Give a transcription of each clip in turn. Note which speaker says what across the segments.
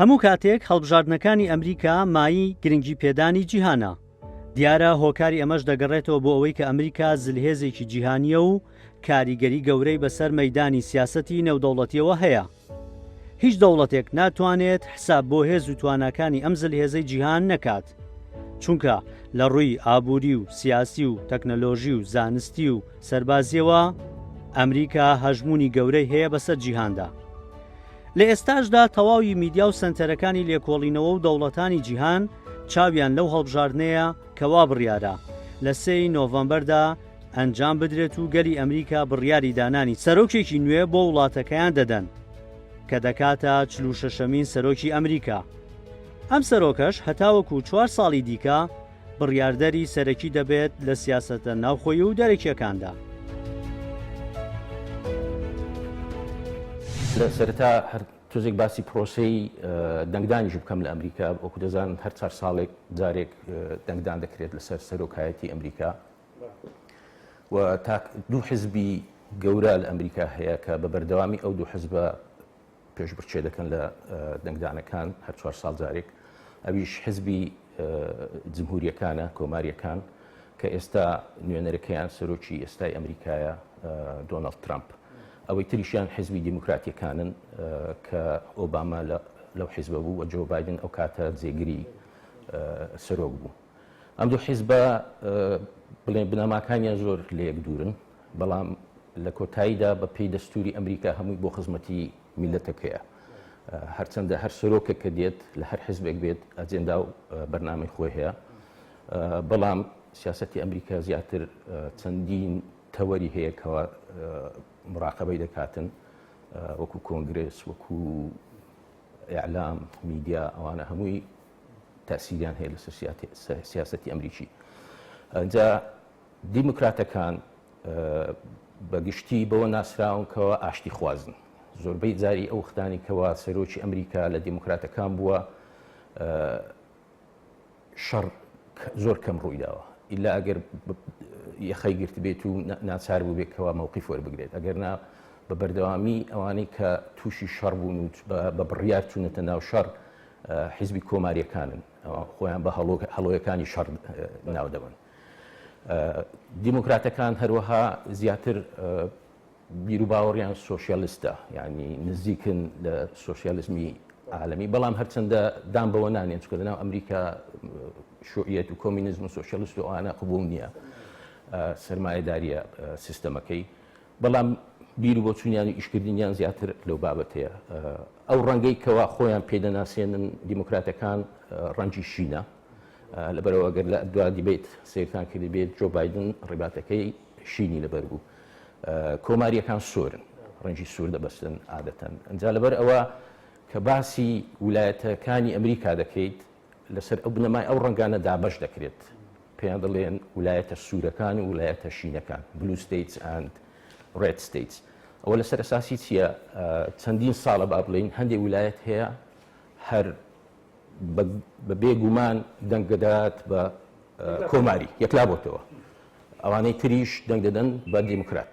Speaker 1: هەموو کاتێک هەڵبژاردنەکانی ئەمریکا مایی گرنگی پێدانی جیهانە دیارە هۆکاری ئەمەش دەگەڕێتەوە بۆ ئەوەی کە ئەمریکا زلهێزێکی جیهانیە و کاریگەری گەورەی بەسەر مەدانی سیاسەتی نێودەوڵەتیەوە هەیە هیچ دەوڵەتێک ناتوانێت حساب بۆ هێز و تواناکانی ئەم زلهێزەی جیهان نەکات، چونکە لە ڕووی ئابووری و سیاسی و تەکنەلۆژی و زانستی و سەربازییەوە ئەمریکا هەژموونی گەورەی هەیە بەسەر جیهاندا. لە ئێستاشدا تەواوی میدیا و سەنتەرەکانی لێکۆڵینەوە و دەوڵەتانی جیهان چاویان لەو هەڵبژاردنەیە کە وابڕیارە لە سێ ی نۆڤەمبەردا ئەنجام بدرێت و گەلی ئەمریکا بڕیاری دانانی سەرۆکێکی نوێ بۆ وڵاتەکەیان دەدەن کە دەکاتە چل و شەشەمین سەرۆکی ئەمریکا. ئەم سەرۆکەش هەتاوەکو چوار ساڵی دیکە بڕیاردەری سەرەکی دەبێت لە سیاسەتە ناوخۆی و دەرەکییەکاندا.
Speaker 2: لە سەرەتا هەر تۆزێک باسی پرۆسەی دەنگدانیش بکەم لە ئەمریکا. وەکو دەزانن هەر چار ساڵێک جارێک دەنگدان دەکرێت لەسەر سەرۆکایەتی ئەمریکا. و تا دوو حزبی گەورە لە ئەمریکا هەیە کە بە بەردەوامی ئەو دوو حزبە پێش بچێ دەکەن لە دەنگدانەکان هەر چوار ساڵ جارێک ئەویش حزبی جمهوریەکانە کۆماریەکان کە ئێستا نوێنەرەکەیان سەرۆکی ئێستای ئەمریکایە دۆناڵد ترامپ ئەوەی تریشیان حزبی دیموکراتیەکانن کە ئۆباما لە لەو حیزبە بوو وە جۆ بادن ئەو کاتە جێگری سەرۆک بوو. ئەم دوو حیزبە بڵێن بنەماکانیان زۆر لەیەک دوورن، بەڵام لە کۆتاییدا بە پێی دەستووری ئەمریکا هەمووی بۆ خزمەتی میللەتەکەیە. هەرچەندە هەر سەرۆکێک کە دێت لە هەر حیزبێک بێت ئەجێندا و بەرنامەی خۆی هەیە، بەڵام سیاسەتی ئەمریکا زیاتر چەندین تەوەری هەیە کەوا مراقەبەی دەکاتن وەکو کۆنگرێس، وەکو ئیعلام، میدیا ئەوانە هەمووی تاسیریان هەیە لە سیاستی ئەمریکی ئەجا دیموکراتەکان بە گشتی بەوە ناسراونکەوە ئاشتی خوازن زۆربەی جاری ئەو ختانی کەوا سەرۆکی ئەمریکا لە دیموکراتەکان بووە شەڕ زۆر کەم ڕوویداوە ئیلا ئەگەر یەخەی گرت بێت و ناچار بوو بێکەوە مووقی فۆر بگرێت ئەگەر نا بە بەردەوامی ئەوانەی کە تووشی شەڕ بوون و بە بڕیار چوونەتە ناو شەڕ حیزبی کۆماریەکانن ئەوە خۆیان بە هەڵۆ هەڵۆیەکانی شەڕ ناو دەبن دیموکراتەکان هەروەها زیاتر بیرو باوەڕیان سوۆسیالستە ینی نزیکن لە سوۆسیالزمی عالمی بەڵام هەرچەندە دام بەوە نانێن چکە لەناو ئەمریکا شوعیەت و کۆمینزم و سوۆسیالست و ئانا قبول نییە سرمایهداریە سیستەمەکەی بەڵام بیر و بۆچونیان و ئیشکردنیان زیاتر لەو بابەتەیە. ئەو ڕەنگەی کەوا خۆیان پێی دەناسێنن دیموکراتەکان ڕەنگی شینە، لەبەرئەوە گەر لە دوا دیبەیت سەیرتان کردبێت جۆ بایدن ڕیباتەکەی شینی لەبەر بوو. کۆماریەکان سۆرن، ڕەنگی سور دەبەستن عادەتەن. ئەنجا لەبەرئەوە کە باسی ولایەتەکانی ئەمریکا دەکەیت، لەسەر ئەو بنەمای ئەو ڕەنگانە دابەش دەکرێت پێیان دەڵێن ولایەتە سوورەکان و ولایەتە شینەکان بلو ستەیتس ئەند ڕێد ستەیتس ئەوە لەسەر ئەساسی چییە چەندین ساڵە با بڵین هەندێک ولایەت هەیە هەر بە بێگومان دەنگدەدات بە کۆماری یەکلا بۆتەوە ئەوانەی تریش دەنگ دەدەن بە دیموکرات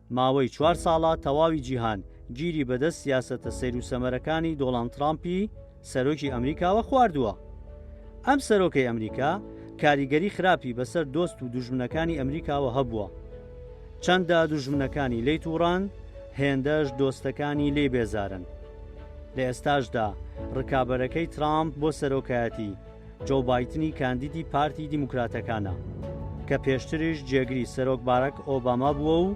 Speaker 1: ماوەی چوار ساڵە تەواوی جیهان گیری بەدەست سیاسەتە سەیروسەمەرەکانی دۆڵاند تڕامپی سەرۆکی ئەمریکاوە خواردووە. ئەم سەرۆکەی ئەمریکا کاریگەری خراپی بەسەر دۆست و دوژمنەکانی ئەمریکاوە هەبووە. چەندە دوژمنەکانی لێی توڕەن، هێندەش دۆستەکانی لێی بێزارن. لە ئێستاشدا ڕکابەرەکەی تڕامپ بۆ سەرۆکایەتی، جۆو بایدنی کاندیدی پارتی دیموکراتەکانە کە پێشتریش جێگری سەرۆک باراک ئۆباما بووە و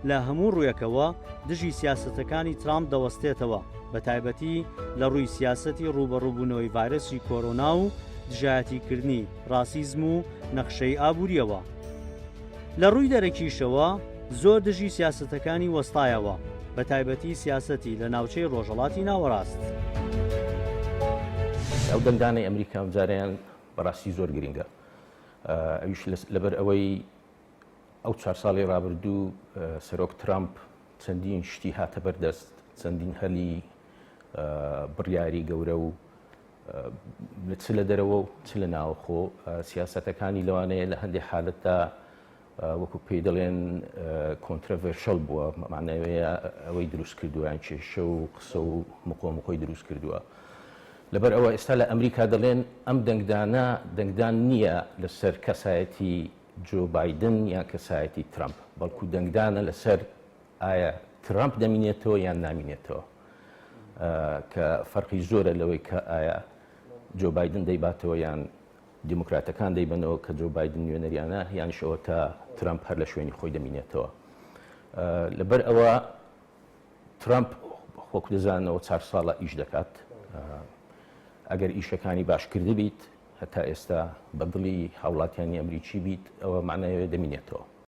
Speaker 1: لە هەموو ڕوویەکەوە دژی سیاسەتەکانی ترامپ دەوەستێتەوە بە تایبەتی لە ڕووی سیاسەتی ڕووبەڕووبوونەوەی ڤایرەسی کۆرۆنا و دژایەتیکردنی ڕاسیزم و نەخشەی ئابووریەوە. لە ڕووی دەرەکیشەوە زۆر دژی سیاسەتەکانی وەستایەوە، بە تایبەتی سیاسەتی لە ناوچەی ڕۆژەڵاتی ناوەڕاست.
Speaker 2: ئەو دەنگدانەی ئەمریکا ئەمجارەیان بەڕاستی زۆر گرنگە ئەویش لەبەر ئەوەی ئەو چوار ساڵی ڕابردوو سەرۆک ترامپ چەندین شتی هاتە بەردەست چەندین هەلی بڕیاری گەورە و چ لە دەرەوە و چ لە ناوەخۆ سیاسەتەکانی لەوانەیە لە هەندێک حالەتدا وەکو پێی دەڵێن کۆنترڤێرشەل بووە مامانەوەیە ئەوەی دروست کردویان کێشە و قسە و مقۆمقۆی دروست کردووە. لەبەر ئەوە ئێستا لە ئەمریکا دەڵێن ئەم دەنگدانە دەنگدان نییە لەسەر کەسایەتی جۆ بادن یان کەسایەتی ترامپ بەڵکو دەنگدانە لەسەر ئایا ترەمپ دەمینێتەوە یان نامینێتەوە کە فەرقی زۆرە لەوەی کە ئایا جۆ بادن دەیباتەوە یان دیموکراتەکان دەیبنەوە کە جۆ بادن نوێنەریانە یانیشەوە تا ترامپ هەر لە شوێنی خۆی دەمینێتەوە لەبەر ئەوە ترامپ وەکو دەزانەوە چار ساڵە ئیش دەکات ئەگەر ئیشەکانی باشکردی بیت هەتا ئێستا بەدڵی هاوڵاتیانی ئەمریکی بیت ئەوە معناەوە دەمینێتەوە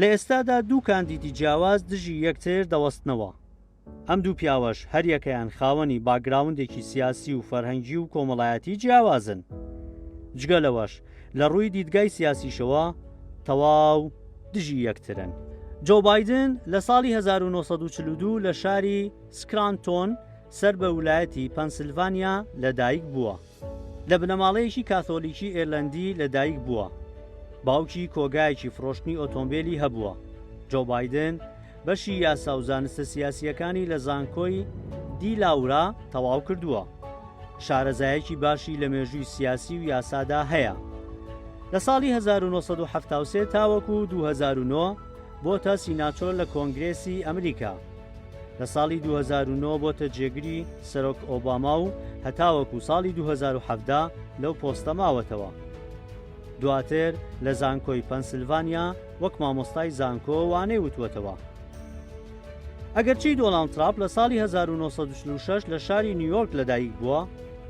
Speaker 1: لە ئێستادا دوو کاندیدی جیاواز دژی یەکتر دەوەستنەوە، ئەم دوو پیاوەش هەریەکەیان خاوەنی باکگراوندێکی سیاسی و فەرهەنگی و کۆمەڵایەتی جیاوازن. جگە لەوەش لە ڕووی دیدگای سیاسیشەوە تەواو دژی یەکترن. جۆ بایدن لە ساڵی هەزار و نۆ سەد و چل و دوو لە شاری سکرانتۆن سەر بە ولایەتی پەنسلڤانیا لەدایکبووە. لە بنەماڵەیەکی کاثۆلیکی ئێرلەندی لەدایک بووە، باوکی کۆگایەکی فڕۆشتنی ئۆتۆمبێلی هەبووە. جۆ بایدن بەشی یاسا و زانستە سیاسییەکانی لە زانکۆی دی لاورا تەواو کردووە. شارەزایەکی باشی لە مێژووی سیاسی و یاسادا هەیە. لە ساڵی هەزار و نۆ سەد و حەفتا و سێ تاوەکو دوو هەزار و نۆ بۆتە سیناتۆر لە کۆنگرێسی ئەمریکا. لە ساڵی دوو هەزار و نۆ بۆتە جێگری سەرۆک ئۆباما و هەتاوەکو ساڵی دوو هەزار و حەڤدە لەو پۆستە ماوەتەوە. دواتر لە زانکۆی پەنسلڤانیا وەک مامۆستای زانکۆ وانەی وتووەتەوە. ئەگەرچی دۆناڵد تراپ لە ساڵی هەزار و نۆ سەد و چل و شەش لە شاری نیویۆرک لەدایک بووە،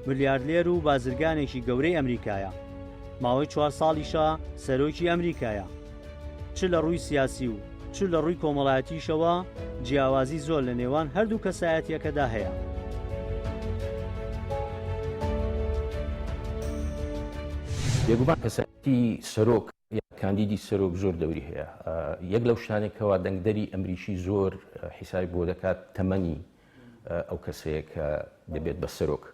Speaker 1: ملیارلێر و بازرگانێکی گەورەی ئەمریکایە. ماوەی چوار ساڵیشە سەرۆکی ئەمریکایە. چ لە ڕووی سیاسی و چ لە ڕووی کۆمەڵایەتیشەوە جیاوازی زۆر لە نێوان هەردوو کەسایەتییەکەدا هەیە.
Speaker 2: بێگومان کەسایەتی سەرۆک یان کاندیدی سەرۆک زۆر دەوری هەیە. یەک لەو شتانەی کەوا دەنگدەری ئەمریکی زۆر حیسابی بۆ دەکات تەمەنی ئەو کەسەیە کە دەبێت بە سەرۆک.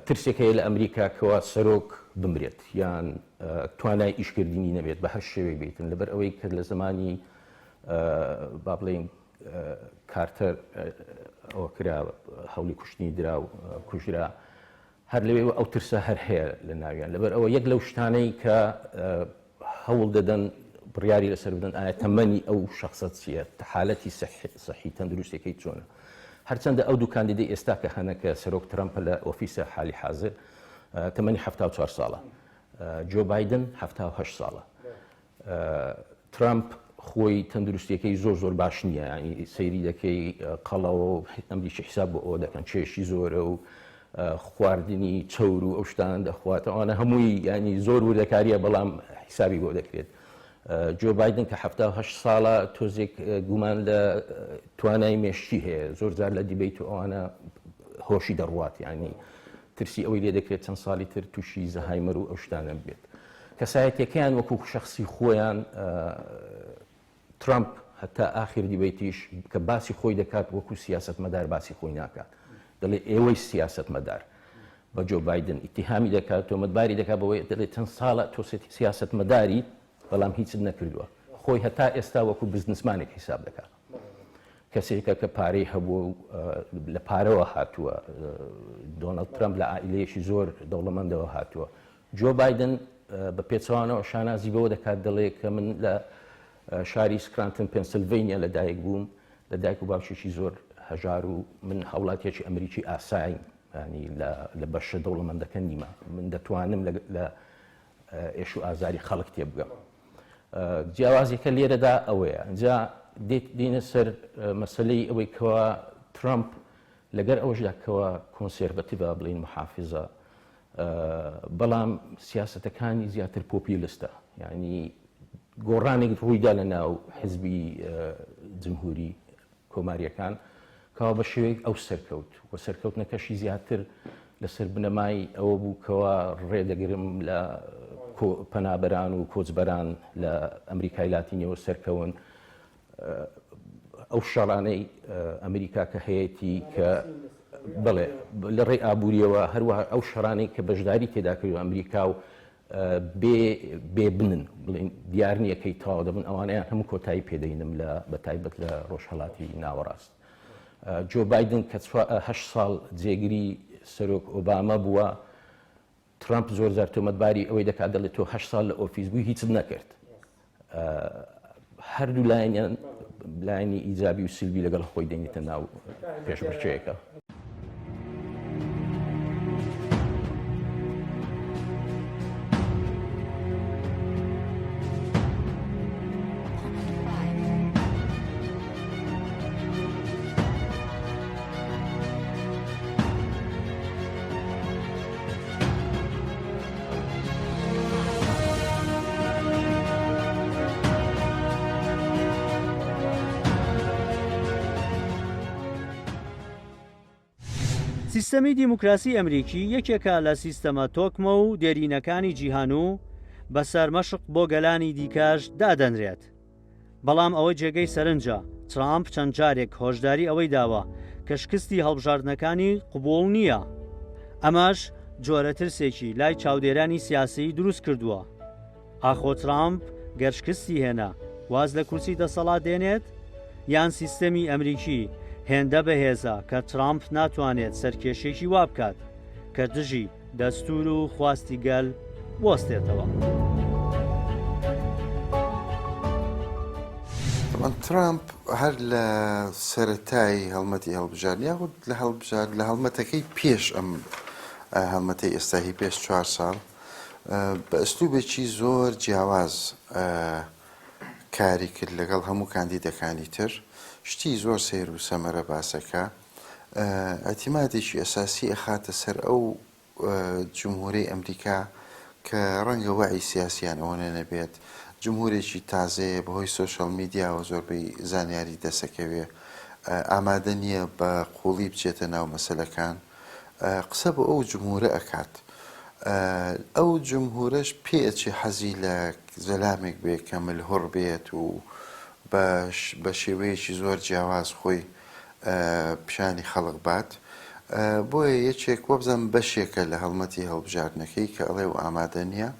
Speaker 2: ترسێک هەیە لە ئەمریکا کەوا سەرۆک بمرێت یان توانای ئیشکردنی نەبێت بە هەر شێوێک بیتن لەبەر ئەوەی کە لە زمانی با بڵێین کارتەر ئەوە کرا هەولی کوشتنی درا و کوژرا هەر لەوێ ئەو ترسە هەر هەیە لە ناویان لەبەر ئەوە یەک لەو شتانەی کە هەوڵ دەدەن بڕیاری لەسەر بدەن ئایا تەمەنی ئەو شەخسە چییە، حالەتی سەحی تەندروستیەکەی چۆنە. هەرچەندە ئەو دوو کاندیدەی ئێستا کە هەنە کە سەرۆک ترەمپە لە ئۆفیسە حالی حازر تەمەنی حەفتا و چوار ساڵە، جۆ بایدن حەفتا و هەشت ساڵە. ترەمپ خۆی تەندروستیەکەی زۆر زۆر باش نییە، یانی سەیری دەکەی قەڵەوە و ئەمریکی حیساب بۆ ئەوە دەکەن، کێشی زۆرە و خواردنی چەور و ئەو شتانە دەخوات ئەوانە هەمووی ینی زۆر وردەکاریە بەڵام حیسابی بۆ دەکرێت جۆ بادن کە ه ساڵە تۆزێک گومان لە توانای مێشتی هەیە زۆر زار لە دیبیت و ئەوانە هۆشی دەڕوات ینی ترسی ئەوەی لێ دەکرێت چەند ساڵی تر تووشی زەهایمەر و ئەو شتانە بێت کەسایەتەکەیان وەکو شخصی خۆیان ترەمپ هەتا ئاخیر دیبەیتیش کە باسی خۆی دەکات وەکو سیاسەتمەدار باسی خۆی ناکات دەڵێ ئێوەی سیاسەتمەدار بە جۆ بایدن ئیتیهامی دەکات تۆمەتباری دەکات بەوەی دەڵێت چەند ساڵە تۆ سیاسەتمەداری بەڵام هیچت نەکردووە خۆی هەتا ئێستا وەکو بزنسمانێک حیساب دەکات کەسێکە کە پارەی هەبوو و لە پارەوە هاتووە دۆنەڵد ترەمپ لە عائلەیەکی زۆر دەوڵەمەندەوە هاتووە جۆ بایدن بە پێچەوانەوە شانازی بەوە دەکات دەڵێ کە من لە شاری سکرانتن پێنسلڤەینیا لە دایک بووم لە دایک و باوکێکی زۆر هەژار و من هاوڵاتیەکی ئەمریکی ئاساییم ینی لە بەشە دەوڵەمەندەکە نیمە من دەتوانم لە ئێش و ئازاری خەڵک تێ بگەم جیاوازیەکە لێرەدا ئەوەیە ئەجا دێت دینە سەر مەسلەی ئەوەی کەوا ترامپ لەگەر ئەوەشدا کەوا کۆنسێرڤەتیڤە، بڵێین موحافیزە، بەڵام سیاسەتەکانی زیاتر پۆپیولستە، یانی گۆڕانێک ڕوویدا لە ناو حزبی جمهوری کۆماریەکان کەوا بە شێوەیەک ئەو سەرکەوت و سەرکەوتنەکەشی زیاتر لەسەر بنەمای ئەوە بوو کەوا ڕێدەگرم لە پەنابەران و کۆچبەران لە ئەمریکای لاتینیەوە سەرکەون ئەو شەڕانەی ئەمریکا کە هەیەی کە بڵێ لە ڕێی ئابوووریەوە هەروە ئەو شەرانەی کە بەشداری تێداکرد و ئەمریکا و بێ بنن بڵین دیار نییەکەی تاوا دەبن ئەوانیان هەموو کۆتایی پێدەینم لە بە تایبەت لە ڕۆژهڵاتی ناوەڕاست جۆ بادن کە ساڵ جێگری سەرۆک ئۆباما بووە ترەمپ زۆر جار تۆمەتباری ئەوەی دەکات دەڵێت تۆ هەشت ساڵ لە ئۆفیس بووی هیچت نەکرد. هەردوو لایەنیان لایەنی ئیجابی و سلبی لەگەڵ خۆی دێنیتە ناو پێشمەرچەیەکە.
Speaker 1: سیستەمی دیموکراسی ئەمریکی یەکێکە لە سیستەمە تۆکمە و دێرینەکانی جیهان و بەسەر مەشق بۆ گەلانی دیکەش دادەنرێت بەڵام ئەوە جێگەی سەرنجە، ترامپ چەند جارێک هۆشداری ئەوەی داوە کە شکستی هەڵبژاردنەکانی قبوڵ نییە. ئەمەش جۆرە ترسێکی لای چاودێرانی سیاسیی دروست کردووە. ئاخۆ ترامپ گەر شکستی هێنا، واز لە کورسی دەسەڵات دێنێت؟ یان سیستەمی ئەمریکی هێندە بەهێزە کە ترامپ ناتوانێت سەرکێشییەکی وا بکات کە دژی دەستوور و خواستی گەل بوەستێتەوە.
Speaker 3: ترامپ هەر لە سەرەتای هەڵمەتی هەڵبژارد یاخود لە هەڵبژارد لە هەڵمەتەکەی پێش ئەم هەڵمەتی ئێستاهی پێش چوار ساڵ بە ئەسلوبێکی زۆر جیاواز کاری کرد لەگەڵ هەموو کاندیدەکانی تر شتی زۆر سیر و سەمەرە باسەکە ئیعتیمادێکی ئەساسی ئەخاتە سەر ئەو جمهورەی ئەمریکا کە ڕەنگە وەعی سیاسیان ئەوەنە نەبێت، جمهورێکی تازەیە بەهۆی سۆشیال میدیاوە زۆربەی زانیاری دەسەکەوێ ئامادە نیە بە قوڵی بچێتە ناو مەسەلەکان قسە بۆ ئەو جمهورە ئەکات ئەو جمهورەش پێ ئەچێ حەزی لە زەلامێک بێ کە ملهوڕ بێت و بە شێوەیەکی زۆر جیاواز خۆی پیشانی خەڵک بات بۆیە یەکێک وەبزەم بەشێکە لە هەڵمەتی هەڵبژاردنەکەی کە ئەڵێ و ئامادە نییە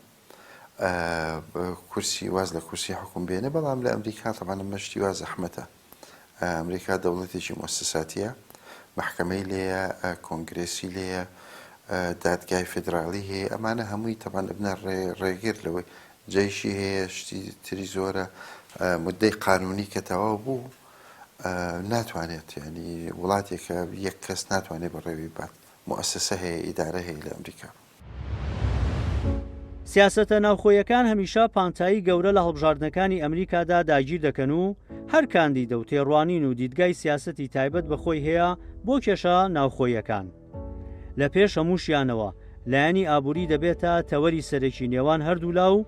Speaker 3: کورسی واز لە کورسی حکوم بێنێ بەڵام لە ئەمریکا تەوانە مەشتی وا زەحمەتە ئەمریکا دەوڵەتێکی مۆسساتیە محکمەی لێە کۆنگرسی لێە دادگای فدرالی هەیە ئەمانە هەمووی تەبان بنە ڕێگر لەوەی جەیشی هەیە شتی تری زۆرە مدەی قانونی کە تەواو بوو ناتوانێت یانی وڵاتێکە یەک کەس ناتوانێت بەڕێوەی ببات موسسە هەیە ئیدارە هەیە لە ئەمریکا.
Speaker 1: سیاسەتە ناوخۆیەکان هەمیشە پانتایی گەورە لە هەڵبژاردنەکانی ئەمریکادا داگیر دەکەن و هەر کاندیدە و تێڕوانین و دیدگای سیاسەتی تایبەت بە خۆی هەیە بۆ کێشە ناوخۆیەکان. لە پێش هەمووشیانەوە لایەنی ئابووری دەبێتە تەوەری سەرەکی نێوان هەردوولا و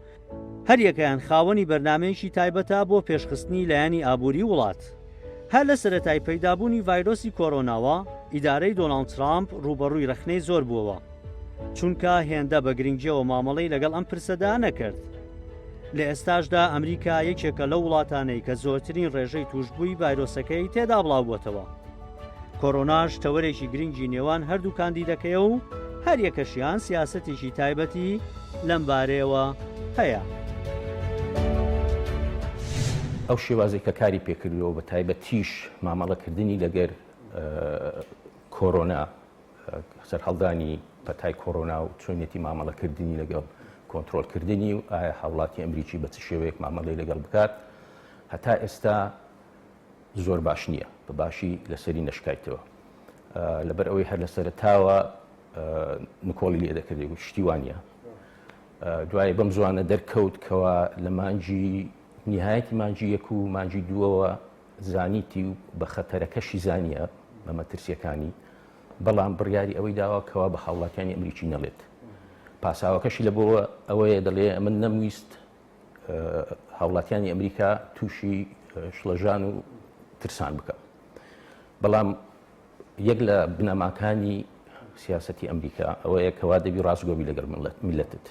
Speaker 1: هەریەکەیان خاوەنی بەرنامەیەکی تایبەتە بۆ پێشخستنی لایەنی ئابووری وڵات. هەر لە سەرەتای پەیدابوونی ڤایرۆسی کۆرۆناوە ئیدارەی دۆناڵد ترامپ ڕووبەڕووی ڕەخنەی زۆر بووەوە چونکە هێندە بە گرنگیەوە مامەڵەی لەگەڵ ئەم پرسەدا نەکرد. لە ئێستاشدا ئەمریکا یەکێکە لەو وڵاتانەی کە زۆرترین ڕێژەی تووشبووی ڤایرۆسەکەی تێدا بڵاوبووەتەوە. کۆرۆناش تەوەرێکی گرنگی نێوان هەردوو کاندیدەکەیە و هەریەکەشیان سیاسەتێکی تایبەتی لەم بارەیەوە هەیە.
Speaker 2: ئەو شێوازەی کە کاری پێکردووە بە تایبەتیش مامەڵەکردنی لەگەر کۆرۆنا سەرهەڵدانی پەتای کۆرۆنا و چۆنێتی مامەڵەکردنی لەگەڵ کۆنتترۆلکردنی و ئایا هاوڵاتی ئەمریکی بە چ شێوەیەک مامەڵی لەگەڵ بکات هەتا ئێستا زۆر باش نیە بە باشی لەسەری نەشکایتەوە لەبەر ئەوەی هەر لەسەرتاوە نکۆڵی لێ دەکردی گوت شتی وانە دوای بەم زوانە دەرکەوت کەوا لە مانجی نهایەتی مانجی یەک و مانجی دووەوە زانیتی و بە خەتەرەکەشی زانیە بە مەترسیەکانی بەڵام بڕیاری ئەوەی داوا کەوا بە هاوڵاتیانی ئەمریکی نەڵێت پاساوەکەشی لە بۆ ئەوەیە دەڵێ من نەمویست هاوڵاتیانی ئەمریکا تووشی شڵەژان و ترسان بکە بەڵام یەک لە بنەماکانی سیاستی ئەمریکا ئەوەیە کەوا دەبی ڕاستگۆبی لەگەڵ ملت میلەتت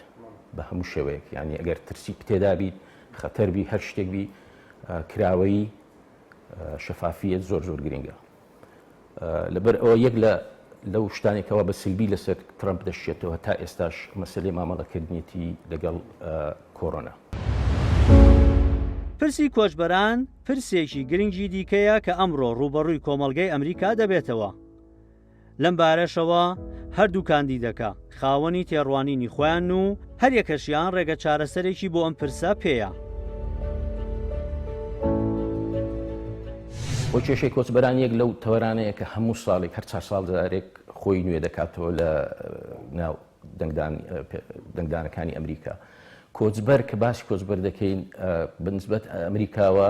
Speaker 2: بە هەموو شێوەیەک ینی ئەگەر ترسی پتێدابیت خەتەربی هەر شتێکبی کراوەی شەفافیت زۆر زۆر گرنگە لەبەر ئەوە یەک لە لەو شتانی کەوا بە سلبی لەسەر ترەمپ دەشێتەوە تا ئێستاش مەسلەی مامەڵەکردنیەتی لەگەڵ کۆرۆنا.
Speaker 1: پرسی کۆچبەران پرسێکی گرنگی دیکەیە کە ئەمڕۆ ڕووبەڕووی کۆمەڵگەی ئەمریکا دەبێتەوە. لەم بارەشەوە هەردوو کاندیدەکە، خاوەنی تێڕوانینی خۆیانن و هەریەکەشیان ڕێگە چارەسەرێکی بۆ ئەم پرسە پێیە.
Speaker 2: بۆ کێشەی کۆچبەران یەک لەو تەوەرانەیە کە هەموو ساڵێک هەر چار ساڵ جارێک خۆی نوێ دەکاتەوە لە ناو دەنگدانەکانی ئەمریکا. کۆچبەر کە باسی کۆچبەر دەکەین بە نسبەت ئەمریکاوە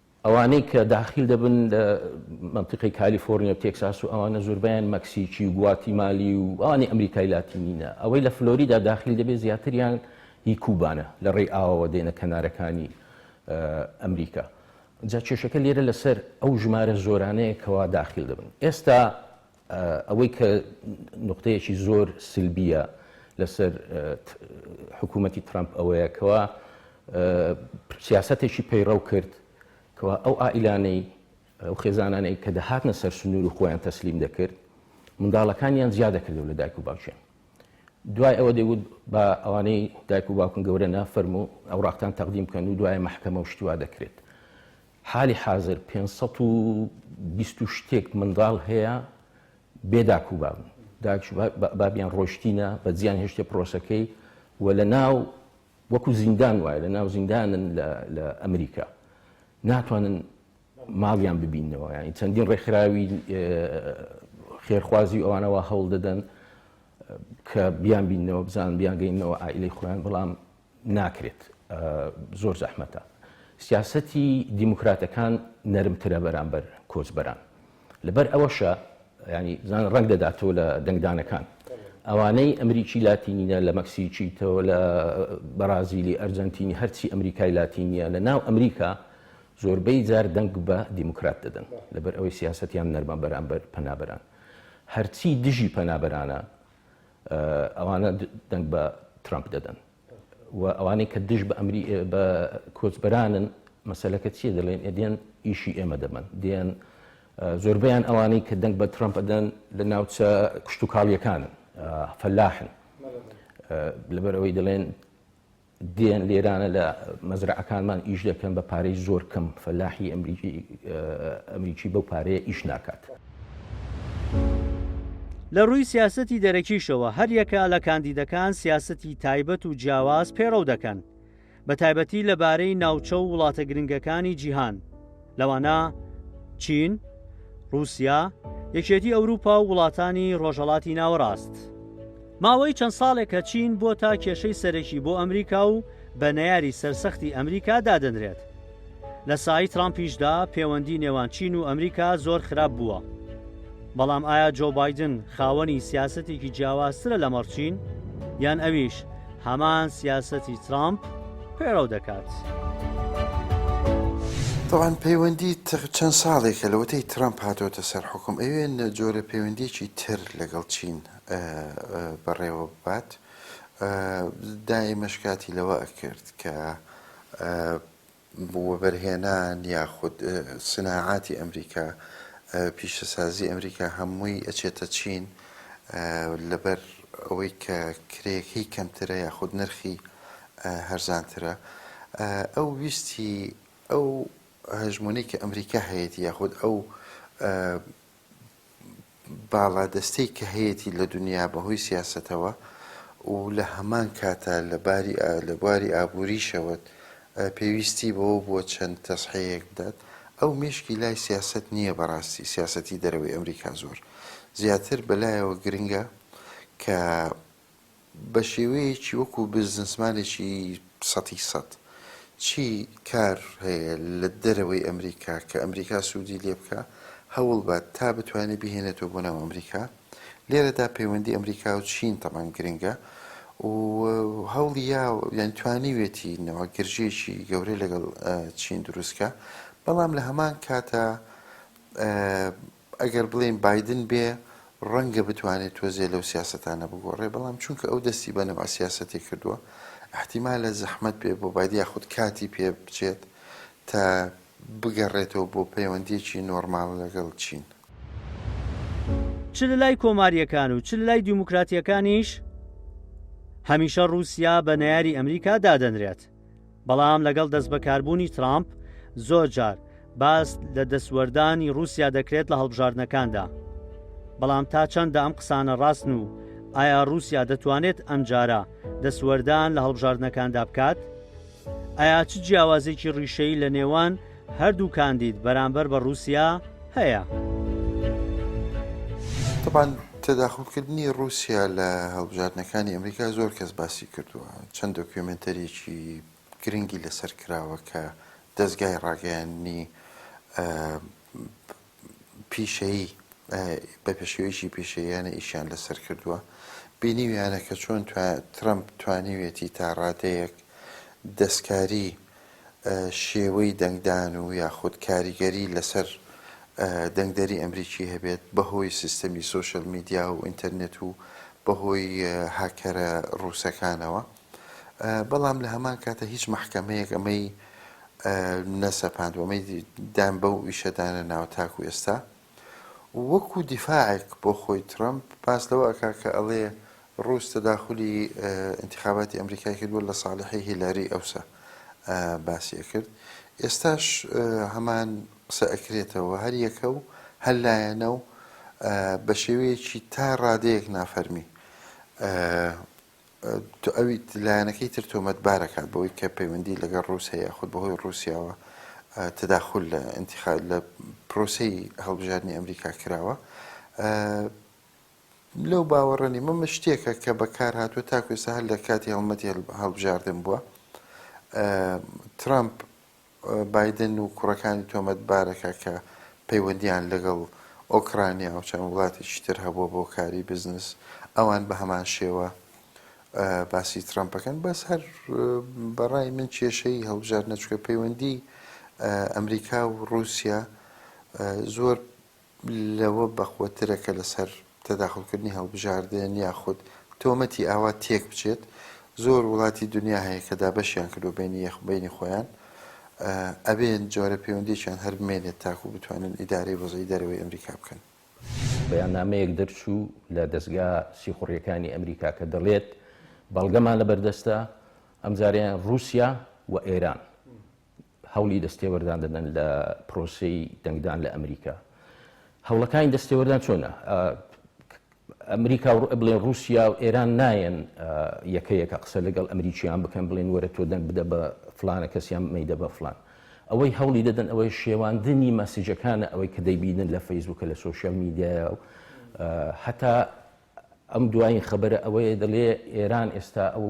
Speaker 2: ئەوانەی کە داخیل دەبن لە مەنتیقەی کالیفۆرنیا و تێکساس و ئەوانە زۆربەیان مەکسیکی و گواتیمالی و ئەوانی ئەمریکای لاتینینە، ئەوەی لە فلۆریدا داخیل دەبێت زیاتریان هی کوبانە لە ڕێی ئاوەوە دێنە کەنارەکانی ئەمریکا، جا کێشەکە لێرە لەسەر ئەو ژمارە زۆرانەیە کەوا داخیل دەبن ئێستا. ئەوەی کە نوقتەیەکی زۆر سلبییە لەسەر حکوومەتی ترەمپ ئەوەیە کەوا سیاستێکی پەیڕەو کرد کەوا ئەو ئائیلانەی ئەو خێزانانەی کە دەهاتنە سەر سنوور و خۆیان تەسلیم دەکرد منداڵەکانیان زیاد دەکردەوە لە دایک و باوچێن دوای ئەوە دەیوت بە ئەوانەی دایک و باوکن گەورە نافەرمو ئەو ڕاقتان تەقدیم بکەن و دوای محکەمە و شتیوا دەکرێت حالی حازر پێنج سەد و بیست و شتێک منداڵ هەیە بێ داک و باب داک و بابیان ڕۆشتینە بە جیان هێشتێ پرۆسەکەی و لە ناو وەکو زیندان وایە لە ناو زیندانن لە ئەمریکا ناتوانن ماڵیان ببینەوە ینی چەندین ڕێکخراوی خێرخوازی ئەوانەوە هەوڵ دەدەن کە بیان بینەوە بزان بیانگەینەوە ئایلی خۆیان بەڵام ناکرێت زۆر زەحمەتە سیاسەتی دیموکراتەکان نەرمترە بەرامبەر کۆچبەران لەبەر ئەوەشە ینی بزان ڕەنگ دەداتەوە لە دەنگدانەکان ئەوانەی ئەمریکی لاتینینە لە مەکسیکیتەوە لە بەرازیلی ئەرجەنتینی هەرچی ئەمریکای لاتینیە لە ناو ئەمریکا زۆربەی جار دەنگ بە دیموکرات دەدەن لەبەر ئەوەی سیاستیان نەرمە بەرامبەر پەنابەران هەرچی دژی پەنابەرانە ئەوانە دەنگ بە ترەمپ دەدەن و ئەوانەی کە دژ بە ئەمری بە کۆچبەرانن مەسلەکە چیە دەڵێن ئەدێن ئیشی ئێمە دەبن دێن زۆربیان ئەوانەی کە دەنگ بە ترەمپ ئەدەن لە ناوچە کشتتوکاڵیەکانن فەلاحن لەبەرەوەی دەڵێن دێن لێرانە لە مەزرەعەکانمان ئیش دەکەن بە پارەی زۆر کەم فەلاحی ئەمریکی بەو پارەیە ئیش ناکات.
Speaker 1: لە رووی سیاسەتی دەرەکیشەوە هەریەکە لە کاندیدەکان سیاسەتی تایبەت و جیاواز پەیڕەو دەکەن بە تایبەتی لەبارەی ناوچە و وڵاتە گرنگەکانی جیهان. لەوانە چین، ڕووسیا، یەکێتی ئەوروپا و وڵاتانی ڕۆژهەڵاتی ناوەڕاست. ماوەی چەند ساڵێکە چین بۆتە کێشەی سەرەکی بۆ ئەمریکا و بە نەیاری سەرسەختی ئەمریکا دادەنرێت. لە سای ترامپیشدا پێوەندی نێوان چین و ئەمریکا زۆر خراپ بووە. بەڵام ئایا جۆو بایدن خاوەنی سیاسەتێکی جیاوازترە لەمەڕ چین؟ یان ئەویش هەمان سیاسەتی ترامپ پەیڕەو دەکات؟
Speaker 3: تەبعەن پەیوەندی تر چەند ساڵێکە لەوەتەی ترەمپ هاتۆتە سەر حوکم ئەوێ نە جۆرە پەیوەندیەکی تر لەگەڵ چین بەڕێوە ببات دائیمەش کاتی لەوە ئەکرد کە وەبەرهێنان یاخود سناعاتی ئەمریکا پیشەسازی ئەمریکا هەمووی ئەچێتە چین لەبەر ئەوەی کە کرێکەی کەمترە یاخود نرخی هەرزانترە ئەو ویستی ئەو هەژمونەی کە ئەمریکا هەیەتی یاخود ئەو باڵادەستەی کە هەیەتی لە دونیا بە هۆی سیاسەتەوە و لە هەمان کاتا لە باری ئا لە بواری ئابووریشەوەت ئە پێویستی بەوە بووە چەند تەسحێیەک بدات ئەو مێشکی لای سیاسەت نییە بە ڕاستی سیاسەتی دەرەوەی ئەمریکا زۆر زیاتر بە لایەوە گرنگە کە بە شێوەیەکی وەکو بزنسمانێکی سەتی سەت چی کار هەیە لە دەرەوەی ئەمریکا کە ئەمریکا سوودی لێ بکا هەوڵ بات تا بتوانێ بیهێنێتەوە بۆ ناو ئەمریکا لێرەدا پەیوەندی ئەمریکا و چین تەبعەن گرنگە و هەوڵی یا یان توانیوێتی نەوە گرژیەکی گەورەی لەگەڵ چین دروستکە بەڵام لە هەمان کاتە ئەگەر بڵێین بایدن بێ ڕەنگە بتوانێت تۆزێ لەو سیاسەتانە بگۆڕێ بەڵام چونکە ئەو دەستی بە نەوع سیاسەتێ کردووە ئیحتیمالە زەحمەت بێ بۆ بایدن یاخود کاتی پێ بچێت تا بگەڕێتەوە بۆ پەیوەندییەکی نۆرماڵ لەگەڵ چین.
Speaker 1: چ لە لای کۆمارییەکان و چ لە لای دیموکراتییەکانیش هەمیشە ڕووسیا بە نەیاری ئەمریکا دادەنرێت. بەڵام لەگەڵ دەستبەکاربوونی ترامپ زۆرجار باس لە دەستوەردانی ڕووسیا دەکرێت لە هەڵبژاردنەکاندا. بەڵام تا چەندە ئەم قسانە ڕاستن و ئایا ڕووسیا دەتوانێت ئەمجارە دەستوەردان لە هەڵبژاردنەکاندا بکات؟ ئایا چ جیاوازێکی ڕیشەیی لە نێوان هەردوو کاندید بەرامبەر بە ڕووسیا هەیە.
Speaker 3: تەبعەن تەداخولکردنی ڕووسیا لە هەڵبژاردنەکانی ئەمریکا زۆر کەس باسی کردووە، چەند دۆکیۆمێنتەریی گرنگی لەسەر کراوە کە دەزگای ڕاگەیاندنی پیشەیی بە پێشێویی پیشەییانە ئیشیان لەسەر کردووە، بینیویانە کە چۆن ترەمپ توانیویەتی تا ڕادەیەک دەستکاری شێوەی دەنگدان و یاخود کاریگەری لەسەر دەنگدەری ئەمریکی هەبێت بەهۆی سیستەمی سۆشیال میدیا و ئینتەرنێت و بەهۆی هاککەرە ڕووسەکانەوە. بەڵام لە هەمان کاتە هیچ مەحکەمەیەک ئەمەی نەسەپاند و ئەمەی دان بەو ئیشەدانە ناوە تاکو ئێستا وەکو دیفاعێک بۆ خۆی ترەمپ پاس لەوە ئەکا کە ئەڵێ ڕووس تەداخلی انتخاباتی ئەمریکای کردووە لە ساڵحی هیلاری ئەوسا باسیە کرد ئێستاش هەمان قسە ئەکرێتەوە هەر یەکە و هەر لایەنە و بە شێوەیەکی تا ڕادەیەک نافەرمی تۆ ئەویت لایەنەکەی تر تۆمەتبار ئەکات بەوەی کە پەیوەندی لەگەڵ ڕووس هەیە یاخود بەهۆی ڕووسیاوە تداخول لە انتخاب لە پرۆسەی هەڵبژاردنی ئەمریکا کراوە لەو باوەڕە نیمە من شتێکە کە بەکار هاتووە تاکو ئێستا هەر لە کاتی هەڵمەتی هەڵبژاردن بووە ترامپ بایدن و کوڕەکانی تۆمەتبارەکە کە پەیوەندییان لەگەڵ ئۆکرانیا و چەند وڵاتێکی تر هەبووە بۆ کاری بزنس، ئەوان بە هەمان شێوە باسی ترەمپ ئەکەن، بەس هەر بە ڕای من کێشەی هەڵبژاردنە چونکە پەیوەندیی ئەمریکا و ڕووسیا زۆر لەوە بەقوەترە کە لەسەر تەداخولکردنی هەڵبژاردن یاخود تۆمەتی ئاوا تێکبچێت، زۆر وڵاتی دنیا هەیە کە دابەشیان کردووە بەینی یەخ بەینی خۆیان ئەبێت جۆرە پەیوەندیەکیان هەر بمێنێت تاکو بتوانن ئیدارەی وەزعی دەرەوەی ئەمریکا بکەن. بەیاننامەیەک
Speaker 2: دەرچوو لە دەزگا سیخوڕیەکانی ئەمریکا کە دەڵێت، بەڵگەمان لەبەردەستە ئەمجارەیان ڕووسیا و ئێران هەوڵی دەستێوەردان دەدەن لە پرۆسەی دەنگدان لە ئەمریکا هەوڵەکانی دەستێوەردان چۆنە ئەمریکا و بڵێن رووسیا و ئێران نایەن یەکەیەکە قسە لەگەڵ ئەمریکیان بکەن بڵێن وەرە تۆ دەنگ بدە بە فلانە کەسیان مەدە بە فلان ئەوەی هەوڵی دەدەن ئەوەی شێواندنی مەسیجەکانە ئەوەی کە دەیبینن لە فەیسبووکە لە سوۆشیال میدیایە و هەتا ئەم دوایین خەبەرە ئەوەیە دەڵێ ئێران ئێستا ئەو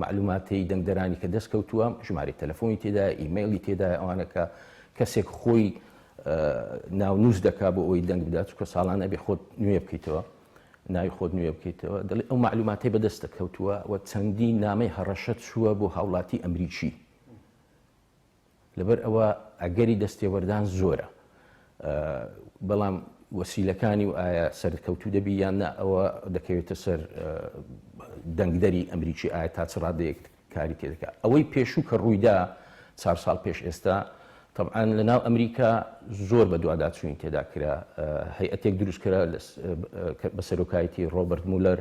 Speaker 2: معلوماتەی دەنگدەرانی کە دەست کەوتووە ژماری تەلەفۆنی تێدا ئیممەلی تێدا ئەوانەکە کەسێک خۆی ناونووس دەکا بۆ ئەوی دەنگ بدات چکە ساڵان ئەبێ خۆت نوێ بکەیتەوە ناوی خۆت نوێ بکەیتەوە دەڵێ ئەو معلوماتی بەدەستە کەوتووە و چەندی نامەی هەڕەشە چووە بۆ هاوڵاتی ئەمریکی لەبەر ئەوە ئەگەری دەستێوەردان زۆرە، بەڵام وەسیلەکانی و ئایا سەرکەوتوو دەبی یان نا ئەوە دەکەوێتە سەر دەنگدەری ئەمریکی ئایا تا چ ڕادەیەک کاری تێ دەکا. ئەوەی پێشوو کە ڕوویدا چار ساڵ پێش ئێستا تەبعان لە ناو ئەمریکا زۆر بە دواداچووین تێدا کرا هەیئەتێک دروستکرا بە سەرۆکایەتی ڕۆبرت مولەر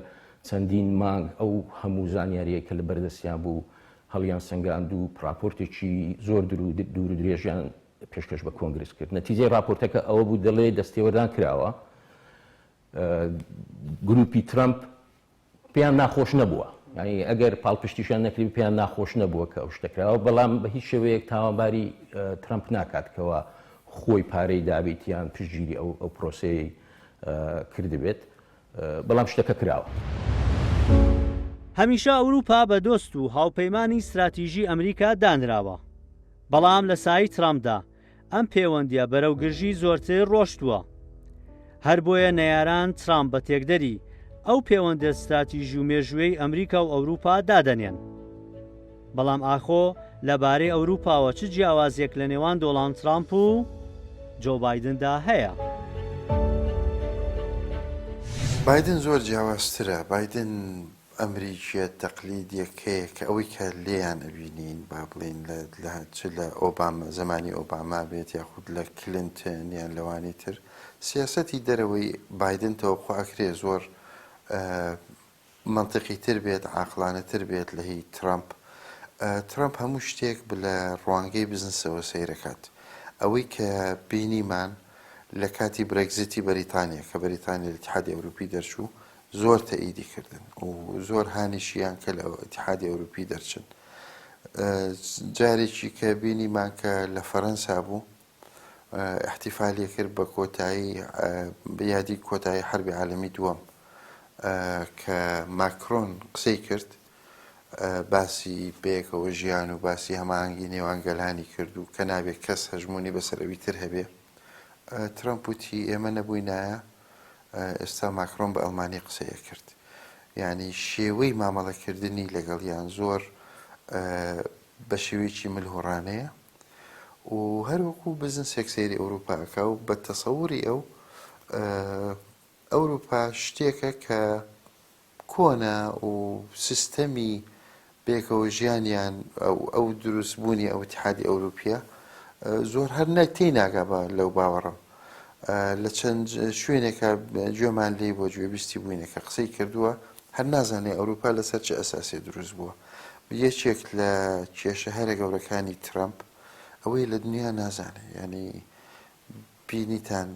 Speaker 2: چەندین مانگ ئەو هەموو زانیاریە کە لە بەردەستیان بوو هەڵیانسەنگاند و ڕاپۆرتێکی زۆر دوورودرێژیان پێشکەش بە کۆنگرس کرد. نەتیجەی ڕاپۆرتەکە ئەوە بوو دەڵێ دەستێوەردان کراوە. گرووپی ترەمپ پێیان ناخۆش نەبووە. یانی ئەگەر پاڵپشتیشان نەکرد پێیان ناخۆش نەبووە کە ئەو شتە کراوە، بەڵام بە هیچ شێوەیەک تاوانباری ترەمپ ناکات کەوا خۆی پارەی دابێت یان پشتگیری ئەو پرۆسەیەی کردبێت. بەڵام شتەکە کراوە.
Speaker 1: هەمیشە ئەوروپا بە دۆست و هاوپەیمانی ستراتیژی ئەمریکا دانراوە، بەڵام لە سایی ترامپدا ئەم پێوەندیە بەرەو گرژی زۆرتر ڕۆشتووە. هەربۆیە نەیاران ترامپ بە تێکدەری ئەو پێوەندە ستراتیژی و مێژوویەی ئەمریکا و ئەوروپا دادەنێن. بەڵام ئاخۆ لە بارەی ئەوروپاوە چ جیاوازیەک لە نێوان دۆڵاند ترامپ و جۆو بایدن دا هەیە؟
Speaker 3: بایدن زۆر جیاوازترە، بایدن ئەمریکیە تەقلیدیەک هەیە کە ئەوەی کە لێیان ئەبینین با بڵێین لە لە چ لە ئۆباما زەمانی ئۆباما بێت یاخود لە کلنتن یان لەوانی تر سیاسەتی دەرەوەی بایدن تەوەقوع ئەکرێ زۆر مەنتیقی تر بێت عاقڵانە تر بێت لە هی ترەمپ ترەمپ هەموو شتێک بلە ڕوانگەی بزنسەوە سەیرەکات ئەوەی کە بینیمان لە کاتی برێگزیتی بەریتانیا کە بەریتانیا لە اتحادی ئەوروپی دەرچوو زۆر تەئیدی کردن و زۆر هانیشیان کە لە اتحادی ئەوروپی دەرچن جارێکی کە بینیمان کە لە فەرەنسا بوو ئیحتیفالی کرد بە کۆتایی بە یادی کۆتایی حەربی عالەمی دووەم کە ماکرۆن قسەی کرد باسی بەیەکەوە ژیان و باسی هەماهەنگی نێوان گەلانی کرد و کە نابێت کەس هەژمونی بەسەرەوی تر هەبێ ترەمپ وتی ئێمە نەبووینایە ئێستا ماکرۆن بە ئەلمانی قسەیە کرد یعنی شێوەی مامەڵەکردنی لەگەڵیان زۆر بە شێوەیەکی ملهوڕانەیە و هەر وەکو بزنسێک سەیری ئەوروپا ئەکا و بە تەسەوری ئەو ئەوروپا شتێکە کە کۆنە و سیستەمی بێکەوە ژیانیان ئەو دروست بوونی ئەو تحادی ئەوروپیە زۆر هەر نەتی ناگا بە لەو باوەڕم لە چەند شوێنێکە گوێمان لی بۆ گوێبیستی بووینەکە قسەی کردووە هەر نازانێ ئەوروپا لەسەر چ ئەساسێ دروست بووە. یەکێک لە کێشە هەرە گەورەکانی ترەمپ ئەوەیە لە دنیا نازانێ یانی بینیتان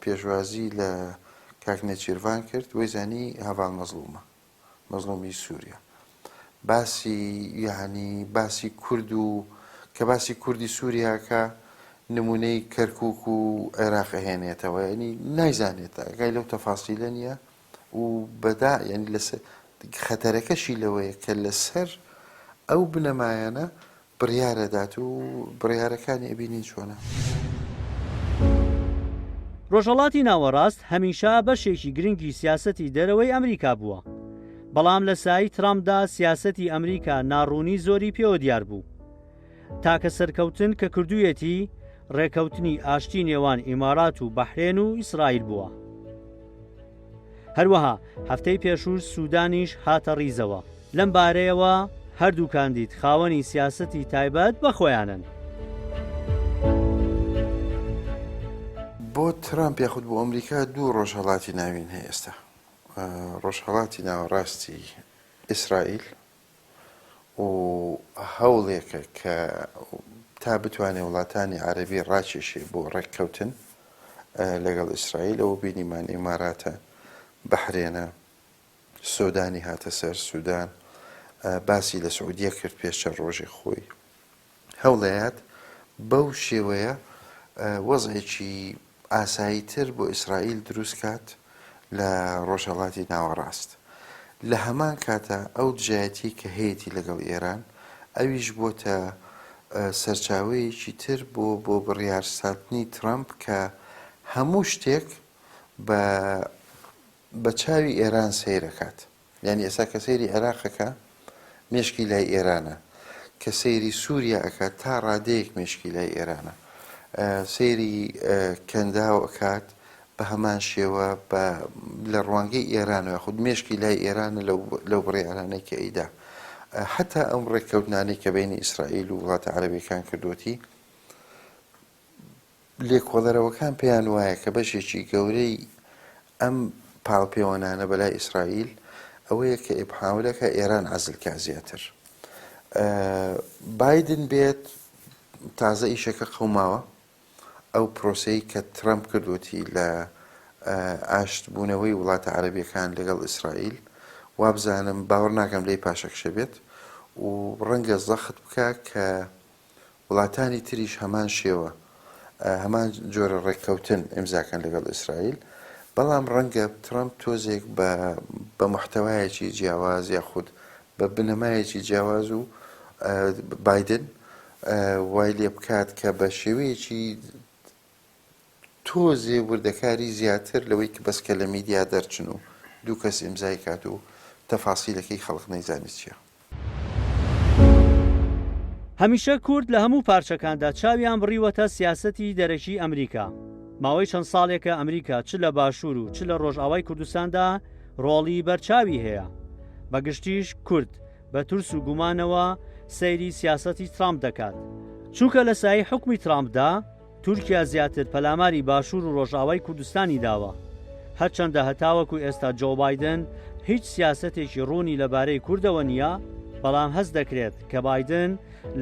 Speaker 3: پێشوازی لە کاک نێچیرڤان کرد وەی زانی هەڤاڵ مەزڵومە مەزڵومی سوریا. باسی یەعنی باسی کورد و کە باسی کوردی سوری ئەکا نمونەی کەرکوک و عێراق ئەهێنێتەوە یەعنی نایزانێت ئەگای لەو تەفاسیلە نیە و بەدا یەعنی لەسەر خەتەرەکەشی لەوەیە کە لەسەر ئەو بنەمایانە بڕیار ئەدات و بڕیارەکانی ئەبینین چۆنە.
Speaker 1: ڕۆژهەڵاتی ناوەڕاست هەمیشە بەشێکی گرنگی سیاسەتی دەرەوەی ئەمریکا بووە، بەڵام لە سایەی ترامپدا سیاسەتی ئەمریکا ناڕوونی زۆری پێوە دیار بوو. تاکە سەرکەوتن کە کردوویەتی ڕێکەوتنی ئاشتی نێوان ئیمارات و بەحرێن و ئیسرائیل بووە. هەروەها هەفتەی پێشووش سودانیش هاتە ڕیزەوە. لەم بارەیەوە هەردوو کاندید خاوەنی سیاسەتی تایبەت بە خۆیانن.
Speaker 3: بۆ ترامپ یاخود بۆ ئەمریکا دوو ڕۆژهەڵاتی ناوین هەیە ئێستا، ڕۆژهەڵاتی ناوەڕاستی ئیسرائیل و هەوڵێکە کە تا بتوانێ وڵاتانی عەرەبی ڕاکێشێ بۆ ڕێککەوتن لەگەڵ ئیسرائیل، ئەوە بینیمان ئیماراتە، بەحرێنە، سۆدانی هاتە سەر، سودان باسی لە سعودیە کرد پێش چەند ڕۆژێک خۆی. هەوڵەیەت بەو شێوەیە وەزعێکی ئاسایی تر بۆ ئیسرائیل دروست کات لە ڕۆژهەڵاتی ناوەڕاست. لە هەمان کاتا ئەو دژایەتیەی کە هەیەتی لەگەڵ ئێران ئەویش بۆتە سەرچاوەیەکی تر بۆ بۆ بڕیار ساتنی ترەمپ کە هەموو شتێک بە بە چاوی ئێران سەیرەکات یانی ئێستا کە سەیری عێراق ئەکا مێشکی لای ئێرانە کە سەیری سوریا ئەکات تا ڕادەیەک مێشکی لای ئێرانە سەیری کەنداو ئەکات بە هەمان شێوە بە لە ڕوانگەی ئێران و خود مێشکی لای ئێرانە لەو بڕیارانەی کە ئەیدا حتا ئەم ڕێککەوتنانەی کە بینی ئیسرائیل و وڵاتە عەربەکان کردوەتی لێکۆڵەرەوەکان پێیان وایە کە بەشێکی گەورەی ئەم پاڵپێوەنانە بەلای ئیسرائیل ئەوەیە کە ئێبحاولەکە ئێران عزلکە زیاتر بادن بێت تازە ئیشەکە قەوماوە ئەو پرۆسەی کە ترەمپ کردوەتی لە ئاشتبوونەوەی وڵاتە عەربیەکان لەگەڵ ئیسرائیل وابزانم باوەڕ ناکەم لی پاشەکشە بێت و ڕەنگە زەخت بکە کە وڵاتانی تریش هەمان شێوە هەمان جۆرە ڕێککەوتن ئیمزاکەن لەگەڵ ئیسرائیل، بەڵام ڕەنگە ترەمپ تۆزێک بە بە موحتەوایەکی جیاواز یاخود بە بنەمایەکی جیاواز و بایدن وای لێ بکات کە بە شێوەیەکی تۆزێ وردەکاری زیاتر لەوەی ک بەس کە لە میدیا دەرچن و دوو کەس ئیمزای کات و تەفاسیلەکەی خەڵق نەیزانێ چیە.
Speaker 1: هەمیشە کورد لە هەموو پارچەکاندا چاویان بڕیوەتە سیاسەتی دەرەکی ئەمریکا. ماوەی چەند ساڵێکە ئەمریکا چ لە باشوور و چ لە ڕۆژئاوای کوردستاندا ڕۆڵی بەرچاوی هەیە. بە گشتیش کورد بە ترس و گومانەوە سەیری سیاسەتی ترامپ دەکات. چونکە لە سایەی حوکمی ترامپدا، تورکیا زیاتر پەلاماری باشوور و ڕۆژئاوای کوردستانی داوە. هەرچەندە هەتاوەکو ئێستا جۆو بایدن هیچ سیاسەتێکی ڕوونی لەبارەی کوردەوە نییە، بەڵام هەست دەکرێت کە بایدن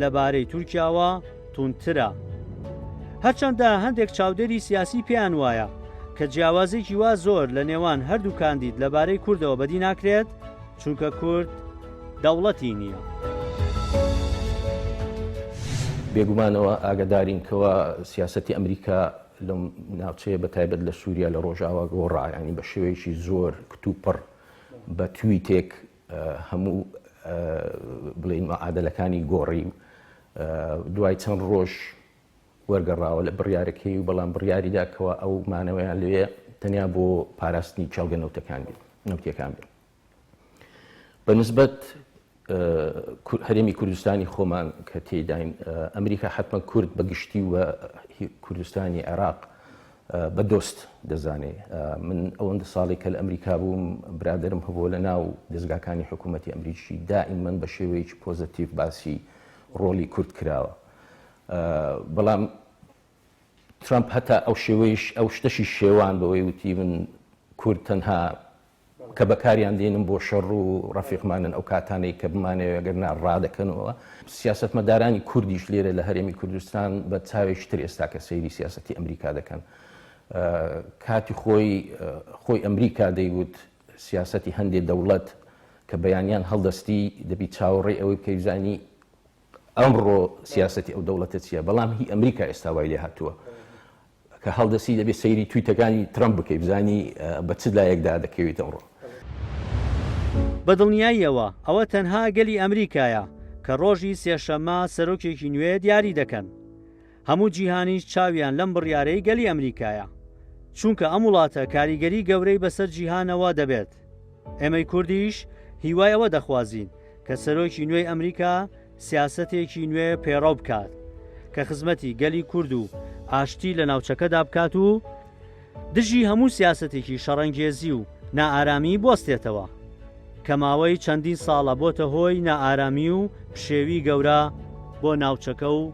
Speaker 1: لەبارەی تورکیاوە توندترە. هەرچەندە هەندێک چاودێری سیاسی پێیان وایە کە جیاوازیەکی وا زۆر لە نێوان هەردوو کاندید لەبارەی کوردەوە بەدی ناکرێت، چونکە کورد دەوڵەتی نییە.
Speaker 2: بێگومانەوە ئاگدارین کەوا سیاستی ئەمریکا لەم ناوچەیە بە تایبەت لە سووریا لە ڕۆژاوا گۆڕایانی بە شێوەیەکی زۆر کتوپڕ بە توی تێک هەموو بڵین مەعادلەکانی گۆڕی و دوای چەند ڕۆژ وەرگەڕاوە لە بڕارەکەی و بەڵام بڕیاریداکەوە ئەو مانەوەیان لێ تەنیا بۆ پاراستنی چاڵگە نەوتەکان بێت نەوتەکان بێت بە نسبەت هەرێمی کوردستانی خۆمان کە تێداین ئەمریکا حتممە کورد بە گشتی و کوردستانی عێراق بە دۆست دەزانێ من ئەوەندە ساڵی کە لە ئەمریکا بووم برادرم هەبوو لە ناو دەستگاکانی حکوومەتتی ئەمریکی دائیم من بە شێوەیەکی پۆزتیف باسی ڕۆلی کورد کراوە بەڵام ترامپ هەتا ئەو شێوەیش ئەو شتەشی شێوان بەوەی وتی من کورد تەنها کە بەکاریان دێنن بۆ شەڕ و ڕەفیقمانن ئەو کاتانەی کە بمانەوێ گەر نا ڕادەکەنەوە سیاسەتمەدارانی کوردیش لێرە لە هەرێمی کوردستان بە چاوێکی تر ئێستا کە سەیری سیاسەتی ئەمریکا دەکەن کاتی خۆی خۆی ئەمریکا دەیوت سیاسەتی هەندێ دەوڵەت کە بەیانیان هەڵدەستی دەبی چاوەڕێ ئەوەی بکەی زانی ئەمڕۆ سیاسەتی ئەو دەوڵەتە چیە بەڵام هی ئەمریکا ئێستا وای لێهاتووە کە هەڵدەسی دەبێ سەیری تویتەکانی ترەمپ بکەی بزانی بە چ لایەکدا دەکەویت ئەمڕۆ. بە
Speaker 1: دڵنیاییەوە ئەوە تەنها گەلی ئەمریکایە کە ڕۆژی سێشەممە سەرۆکێکی نوێ دیاری دەکەن. هەموو جیهانیش چاویان لەم بڕیارەی گەلی ئەمریکایە، چونکە ئەم وڵاتە کاریگەری گەورەی بەسەر جیهانەوە دەبێت. ئێمەی کوردیش هیوای ئەوە دەخوازین کە سەرۆکی نوێی ئەمریکا سیاسەتێکی نوێ پێڕەو بکات کە خزمەتی گەلی کورد و ئاشتی لە ناوچەکەدا بکات و دژی هەموو سیاسەتێکی شەڕەنگێزی و نائارامی بوەستێتەوە کە ماوەی چەندین ساڵە بۆتە هۆی نائارامی و پشێوی گەورە بۆ ناوچەکە و